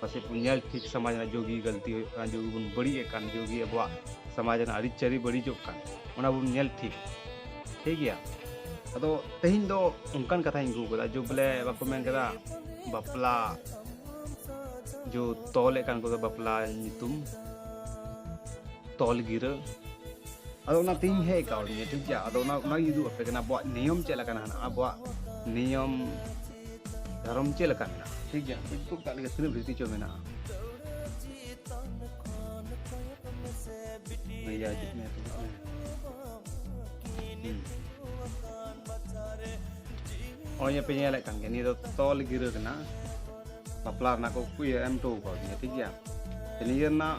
ᱯᱟᱥᱮᱡ ᱵᱚᱱ ᱧᱮᱞ ᱴᱷᱤᱠ ᱥᱚᱢᱟᱡᱽ ᱨᱮᱱᱟᱜ ᱡᱳᱜᱤ ᱜᱟᱹᱞᱛᱤ ᱦᱩᱭᱩᱜ ᱠᱟᱱᱟ ᱡᱳᱜᱤ ᱵᱚᱱ ᱵᱟᱹᱲᱤᱡᱮᱫ ᱠᱟᱱ ᱡᱳᱜᱤ ᱟᱵᱚᱣᱟᱜ ᱥᱚᱢᱟᱡᱽ ᱨᱮᱱᱟᱜ ᱟᱹᱨᱤᱪᱟᱹᱞᱤ ᱵᱟᱹᱲᱤᱡᱚᱜ ᱠᱟᱱ ᱚᱱᱟ ᱵᱚᱱ ᱧᱮᱞ ᱴᱷᱤᱠ ᱴᱷᱤᱠ ᱜᱮᱭᱟ ᱟᱫᱚ ᱛᱮᱦᱮᱧ ᱫᱚ ᱚᱱᱠᱟᱱ ᱠᱟᱛᱷᱟᱧ ᱟᱹᱜᱩ ᱠᱟᱫᱟ ᱡᱳᱜ ᱵᱚᱞᱮ ᱵᱟᱠᱚ ᱢᱮᱱ ᱠᱟᱫᱟ ᱵᱟᱯᱞᱟ ᱡᱳ ᱛᱚᱞᱮᱫ ᱠᱟᱱ ᱠᱚᱫᱚ ᱵᱟᱯᱞᱟ ᱧᱩᱛᱩᱢ ᱛᱚᱞ ᱜᱤᱨᱟᱹ ᱟᱫᱚ ᱚᱱᱟ ᱛᱮᱧ ᱦᱮᱡ ᱠᱟᱣᱫᱤᱧᱟ ᱴᱷᱤᱠ ᱜᱮᱭᱟ ᱟᱫᱚ ᱚᱱᱟ ᱚᱱᱟᱜᱤᱧ ᱩᱫᱩᱜ ᱟᱯᱮ ᱠᱟᱱᱟ ᱟᱵᱚᱣᱟᱜ ᱱᱤᱭᱚᱢ ᱪᱮᱫ ᱞᱮᱠᱟᱱᱟ ᱟᱵᱚᱣᱟᱜ ᱱᱤᱭᱚᱢ ᱫᱷᱚᱨᱚᱢ ᱪᱮᱫ ᱞᱮᱠᱟ ᱢᱮᱱᱟᱜᱼᱟ ᱴᱷᱤᱠ ᱜᱮᱭᱟ ᱠᱚ ᱠᱟᱜ ᱞᱮᱠᱟ ᱛᱤᱱᱟᱹᱜ ᱵᱷᱤᱛᱤ ᱪᱚ ᱢᱮᱱᱟᱜᱼᱟ ᱵᱷᱮᱡᱟ ᱦᱤᱡᱩᱜ ᱢᱮ ᱱᱚᱜᱼᱚᱭ ᱯᱮ ᱧᱮᱞᱮᱫ ᱠᱟᱱ ᱜᱮᱭᱟ ᱱᱤᱭᱟᱹ ᱫᱚ ᱛᱚᱞ ᱜᱤᱨᱟᱹ ᱠᱟᱱᱟ ᱵᱟᱯᱞᱟ ᱨᱮᱱᱟᱜ ᱠᱚ ᱤᱭᱟᱹ ᱮᱢ ᱦᱚᱴᱚ ᱟᱠᱟᱫᱤᱧᱟ ᱴᱷᱤᱠ ᱜᱮᱭᱟ ᱱᱤᱭᱟᱹ ᱨᱮᱱᱟᱜ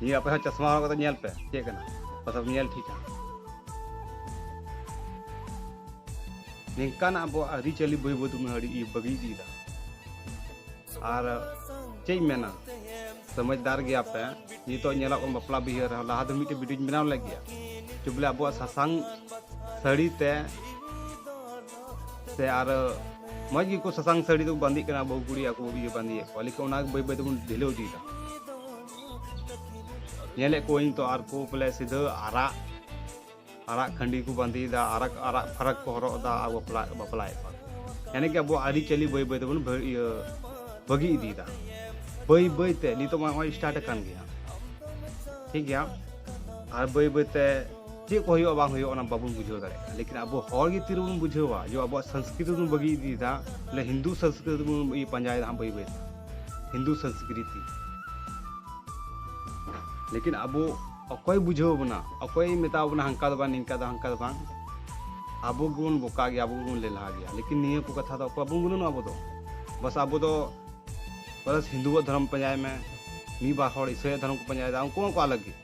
ᱱᱤᱭᱟᱹ ᱟᱯᱮ ᱦᱚᱸ ᱪᱚᱥᱢᱟ ᱦᱚᱨᱚᱜ ᱠᱟᱛᱮ ᱧᱮᱞ ᱯᱮ ᱪᱮᱫ ᱠᱟᱱᱟ ᱯᱟᱥᱮᱢ ᱧᱮᱞ ᱴᱷᱤᱠᱟ ᱱᱤᱝᱠᱟᱱᱟᱜ ᱟᱵᱚ ᱟᱹᱨᱤᱪᱟᱹᱞᱤ ᱵᱟᱹᱭ ᱵᱟᱹᱭ ᱛᱮᱵᱚᱱ ᱟᱹᱰᱤ ᱵᱟᱹᱜᱤ ᱤᱫᱤᱭᱮᱫᱟ ᱟᱨ ᱪᱮᱫ ᱤᱧ ᱢᱮᱱᱟ ᱥᱚᱢᱚᱡᱽᱫᱟᱨ ᱜᱮᱭᱟ ᱯᱮ ᱱᱤᱛᱚᱜ ᱧᱮᱞᱚᱜ ᱠᱟᱱ ᱵᱟᱯᱞᱟ ᱵᱤᱦᱟᱹ ᱨᱮᱦᱚᱸ ᱞᱟᱦᱟ ᱫᱚ ᱢᱤᱫᱴᱮᱡ ᱵᱷᱤᱰᱤᱭᱳᱧ ᱵᱮᱱᱟᱣ ᱞᱮᱫ ᱜᱮᱭᱟ ᱪᱚ ᱵᱚᱞᱮ ᱟᱵᱚᱣᱟᱜ ᱥᱟᱥᱟᱝ ᱥᱟᱹᱲᱤ ᱛᱮ ᱥᱮ ᱟᱨ ᱢᱚᱡᱽ ᱜᱮᱠᱚ ᱥᱟᱥᱟᱝ ᱥᱟᱹᱲᱤ ᱫᱚ ᱵᱟᱸᱫᱮᱜ ᱠᱟᱱᱟ ᱵᱟᱹᱦᱩ ᱠᱩᱲᱤ ᱟᱠᱚ ᱤᱭᱟᱹ ᱵᱟᱸᱫᱮᱭᱮᱫ ᱠᱚᱣᱟ ᱞᱮᱠᱤᱱ ᱚᱱᱟ ᱵᱟᱹᱭ ᱵᱟᱹᱭ ᱛᱮᱵᱚᱱ ᱰᱷᱤᱞᱟᱹᱣ ᱤᱫᱤᱭᱮᱫᱟ ᱧᱮᱞᱮᱫ ᱠᱚᱣᱟᱹᱧ ᱛᱚ ᱟᱨ ᱠᱚ ᱵᱚᱞᱮ ᱥᱤᱫᱷᱟᱹ ᱟᱨᱟᱜ ᱟᱨᱟᱜ ᱠᱷᱟᱺᱰᱤ ᱠᱚ ᱵᱟᱸᱫᱮᱭᱮᱫᱟ ᱟᱨᱟᱜ ᱟᱨᱟᱜ ᱯᱷᱟᱨᱟᱠ ᱠᱚ ᱦᱚᱨᱚᱜ ᱮᱫᱟ ᱟᱨ ᱵᱟᱯᱞᱟ ᱵᱟᱯᱞᱟᱭᱮᱫ ᱠᱚᱣᱟ ᱮᱱᱮ ᱜᱮ ᱟᱵᱚ ᱟᱹᱨᱤᱪᱟᱹᱞᱤ ᱵᱟᱹᱭ ᱵᱟᱹᱭ ᱛᱮᱵᱚᱱ ᱤᱭᱟᱹ ᱵᱟᱹᱜᱤ ᱤᱫᱤᱭᱮᱫᱟ ᱵᱟᱹᱭ ᱵᱟᱹᱭ ᱛᱮ ᱱᱤᱛᱚᱜ ᱢᱟ ᱱᱚᱜᱼᱚᱭ ᱥᱴᱟᱨᱴ ᱟᱠᱟᱱ ᱜᱮᱭᱟ ᱴᱷᱤᱠ ᱜᱮᱭᱟ ᱟᱨ ᱵᱟᱹᱭ ᱵᱟᱹᱭ ᱛᱮ ᱪᱮᱫ ᱠᱚ ᱦᱩᱭᱩᱜᱼᱟ ᱵᱟᱝ ᱦᱩᱭᱩᱜᱼᱟ ᱚᱱᱟ ᱵᱟᱵᱚᱱ ᱵᱩᱡᱷᱟᱹᱣ ᱫᱟᱲᱮᱭᱟᱜᱼᱟ ᱞᱮᱠᱤᱱ ᱟᱵᱚ ᱦᱚᱲ ᱜᱮ ᱛᱤ ᱨᱮᱵᱚᱱ ᱵᱩᱡᱷᱟᱹᱣᱟ ᱡᱮ ᱟᱵᱚᱣᱟᱜ ᱥᱚᱝᱥᱠᱨᱤᱛᱤ ᱵᱚᱱ ᱵᱟᱹᱜᱤ ᱤᱫᱤᱭᱮᱫᱟ ᱵᱚᱞᱮ ᱦᱤᱱᱫᱩ ᱥᱚᱝᱥᱠᱨᱤᱛᱤ ᱵᱚᱱ ᱯᱟᱸᱡᱟᱭᱮᱫᱟ ᱦᱟᱸᱜ ᱵᱟᱹᱭ ᱵᱟᱹᱭᱛᱮ ᱦᱤᱱᱫᱩ ᱥᱚᱝᱥᱠᱨᱤᱛᱤ ᱞᱮᱠᱤᱱ ᱟᱵᱚ ᱚᱠᱚᱭ ᱵᱩᱡᱷᱟᱹᱣ ᱵᱚᱱᱟ ᱚᱠᱚᱭ ᱢᱮᱛᱟᱣ ᱵᱚᱱᱟ ᱦᱟᱝᱠᱟ ᱫᱚ ᱵᱟᱝ ᱱᱤᱝᱠᱟ ᱫᱚ ᱦᱟᱝᱠᱟ ᱫᱚ ᱵᱟᱝ ᱟᱵᱚ ᱜᱮᱵᱚᱱ ᱵᱚᱠᱟ ᱜᱮᱭᱟ ᱟᱵᱚ ᱜᱮᱵᱚᱱ ᱞᱮᱞᱦᱟ ᱜᱮᱭᱟ ᱞᱮᱠᱤᱱ ᱱᱤᱭᱟᱹ ᱠᱚ ᱠᱟᱛᱷᱟ ᱫᱚ ᱚᱠᱚᱭ ᱵᱚᱱ ᱜᱩᱱᱟᱹᱱᱚᱜᱼᱟ ᱟᱵᱚ ᱫᱚ ᱵᱟᱥ ᱟᱵᱚ ᱫᱚ ᱵᱟᱥ ᱦᱤᱱᱫᱩᱣᱟᱜ ᱫᱷᱚᱨᱚᱢ ᱯᱟᱸᱡᱟᱭ ᱢᱮ ᱢᱤᱫ ᱵᱟᱨ ᱦᱚᱲ ᱤᱥᱟᱹᱭᱟᱜ ᱫᱷᱚᱨᱚᱢ ᱠᱚ ᱯᱟᱸᱡᱟᱭᱮᱫᱟ ᱩᱱᱠᱩ ᱦᱚᱸᱠᱚ ᱟᱞᱟᱜᱽ ᱜᱮ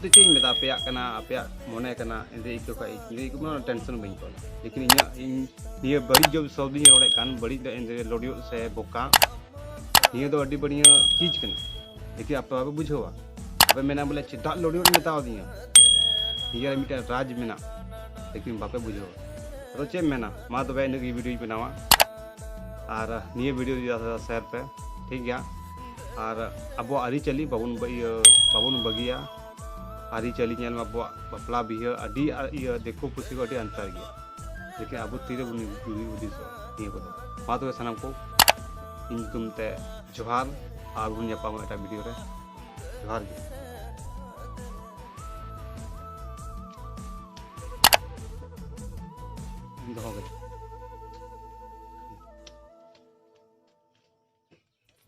ᱫᱚ ᱪᱮᱫ ᱤᱧ ᱢᱮᱛᱟ ᱟᱯᱮᱭᱟᱜ ᱠᱟᱱᱟ ᱟᱯᱮᱭᱟᱜ ᱢᱚᱱᱮ ᱠᱟᱱᱟ ᱤᱧᱫᱚ ᱟᱹᱭᱠᱟᱹᱣ ᱠᱷᱟᱡ ᱤᱧᱫᱚ ᱟᱹᱭᱠᱟᱹᱣ ᱠᱟᱱᱟ ᱴᱮᱱᱥᱚᱱ ᱵᱟᱹᱧ ᱦᱟᱛᱟᱣᱟ ᱞᱮᱠᱤᱱ ᱤᱧᱟᱹᱜ ᱤᱧ ᱱᱤᱭᱟᱹ ᱵᱟᱹᱲᱤᱡ ᱡᱚᱵ ᱥᱚᱵᱫ ᱤᱧ ᱨᱚᱲᱮᱫ ᱠᱟᱱ ᱵᱟᱹᱲᱤᱡ ᱫᱚ ᱤᱧᱫᱚ ᱞᱚᱰᱤᱭᱚ ᱥᱮ ᱵᱚᱠᱟ ᱱᱤᱭᱟᱹ ᱫᱚ ᱟᱹᱰᱤ ᱵᱟᱹᱲᱤᱡ ᱪᱤᱡᱽ ᱠᱟᱱᱟ ᱞᱮᱠᱤᱱ ᱟᱯᱮ ᱵᱟᱯᱮ ᱵᱩᱡᱷᱟᱹᱣᱟ ᱟᱯᱮ ᱢᱮᱱᱟ ᱵᱚᱞᱮ ᱪᱮᱫᱟᱜ ᱞᱚᱰᱤᱭᱚ ᱢᱮᱛᱟᱣᱫᱤᱧᱟ ᱱᱤᱭᱟᱹ ᱢᱤᱫᱴᱮᱱ ᱨᱟᱡᱽ ᱢᱮᱱᱟᱜ ᱞᱮᱠᱤᱱ ᱵᱟᱯᱮ ᱵᱩᱡᱷᱟᱹᱣᱟ ᱟᱫᱚ ᱪᱮᱫ ᱮᱢ ᱢᱮᱱᱟ ᱢᱟ ᱛᱚᱵᱮ ᱤᱱᱟᱹᱜ ᱜᱮ ᱵᱷᱤᱰᱤᱭᱳᱧ ᱵᱮᱱᱟᱣᱟ ᱟᱨ ᱱᱤᱭᱟᱹ ᱵᱷᱤᱰᱤᱭᱳ ᱡᱩᱫᱤ ᱥᱮᱭᱟᱨ ᱯᱮ ᱴᱷᱤᱠ ᱜᱮᱭᱟ ᱟᱨ ᱟᱵᱚᱣᱟᱜ ᱟᱹᱨᱤᱪᱟᱹᱞᱤ ᱵᱟᱵᱚᱱ ᱤᱭᱟᱹ ᱵᱟᱵᱚᱱ ᱵᱟᱹᱜᱤᱭᱟ ᱟᱹᱨᱤᱪᱟᱹᱞᱤ ᱧᱮᱞ ᱢᱮ ᱟᱵᱚᱣᱟᱜ ᱵᱟᱯᱞᱟ ᱵᱤᱦᱟᱹ ᱟᱹᱰᱤ ᱤᱭᱟᱹ ᱫᱤᱠᱩ ᱯᱩᱥᱤ ᱠᱚ ᱟᱹᱰᱤ ᱟᱱᱛᱟᱨ ᱜᱮᱭᱟ ᱞᱮᱠᱤᱱ ᱟᱵᱚ ᱛᱤᱨᱮ ᱵᱚᱱ ᱡᱩᱨᱤ ᱦᱩᱫᱤᱥᱚᱜ ᱱᱤᱭᱟᱹ ᱠᱚᱫᱚ ᱢᱟ ᱛᱚᱵᱮ ᱥᱟᱱᱟᱢ ᱠᱚ ᱤᱧ ᱧᱩᱛᱩᱢ ᱛᱮ ᱡᱚᱦᱟᱨ ᱟᱨ ᱵᱚᱱ ᱧᱟᱯᱟᱢᱟ ᱮᱴᱟᱜ ᱵᱷᱤᱰᱤᱭᱳ ᱨᱮ ᱡᱚᱦᱟᱨ ᱜᱮ